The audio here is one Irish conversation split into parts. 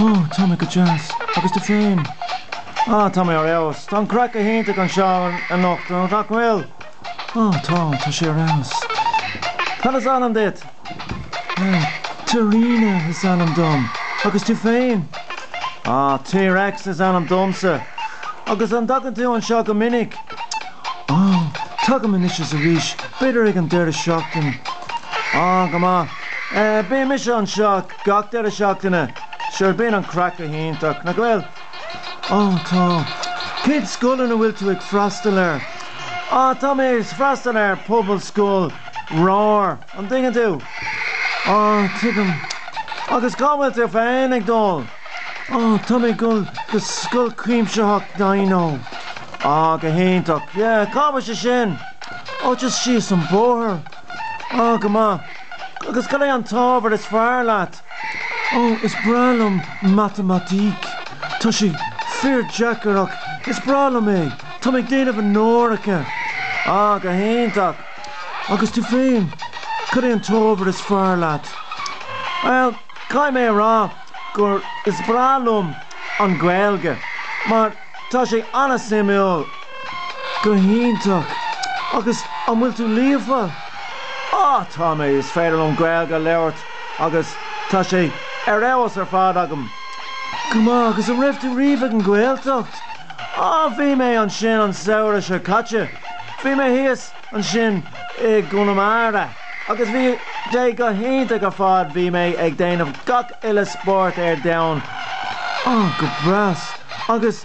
Ó, tá mé go deas. Agus tú féin? Á, tá mé ar fheabhas. Tá an craic go hiontach anseo anocht, nach bhfuil? Ó, tá, tá sé ar fheabhas. Cad is ainm duit? Ó, T-Ríona is ainm dom. Agus tú féin? Á, T-Rex is ainm domsa. Agus an dtagann tú anseo go minic? Ó, tagaim anois is arís, b'fhéidir ag an deireadh seachtain. Á, go maith. Eh, bímis anseo. Gach deireadh seachtaine. Sure bíonn an craic go hiontach. Nach bhfuil? Ó tá. Cén scoil ina bhfuil tú ag freastal air? Á tá mé ag freastal ar Pobalscoil Roar. An dtuigeann tú? Á tuigim. Agus cá bhfuil tú féin ag dul? Ó tá mé ag dul go Scoil Cuimsitheach Dino. Á go hiontach. Yeah cá bhfuil sé sin? Ó just síos an bóthar. Á, go maith. Agus cad é an t-ábhar is fearr leat? Ó, is breá liom matamaitic. Tá sé fíor deacair ach is breá liom é. Tá mé ag déanamh onóracha. Á, go hiontach. Agus tú féin, cad é an t-ábhar is fearr leat? Bhuel, caithfidh mé a rá gur is breá liom an Ghaeilge mar, Tá sé an-suimiúil. Go hiontach. Agus an bhfuil tú líofa? Á, tá mé, is féidir liom Gaeilge a labhairt agus tá sé ar fheabhas ar fad agam. Go maith, agus an raibh tú riamh ag an Ghaeltacht? Á, bhí mé ansin an samhradh seo caite. Bhí mé thíos. ansin i gConamara agus bhí sé go hiontach ar fad bhí mé ag déanamh gach uile spórt ar domhan ah go breá agus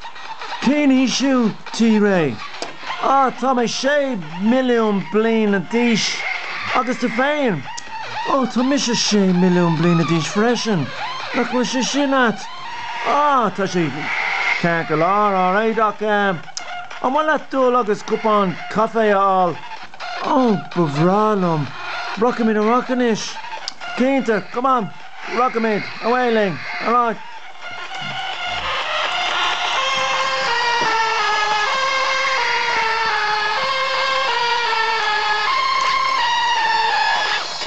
cén aois thú T-Rí? ah tá mé sé milliún bliana d'aois agus tú féin? oh tá mise sé milliún bliana d'aois freisin nach bhfuil sé sin ait? ah tá sé ceart go leor alright ach eh. Ar mhaith leat dul agus cupán caife a fháil? Ó, ba bhreá liom. Rachaimid amach anois. Cinnte, come on, rachaimid, ar aghaidh linn, ar aghaidh.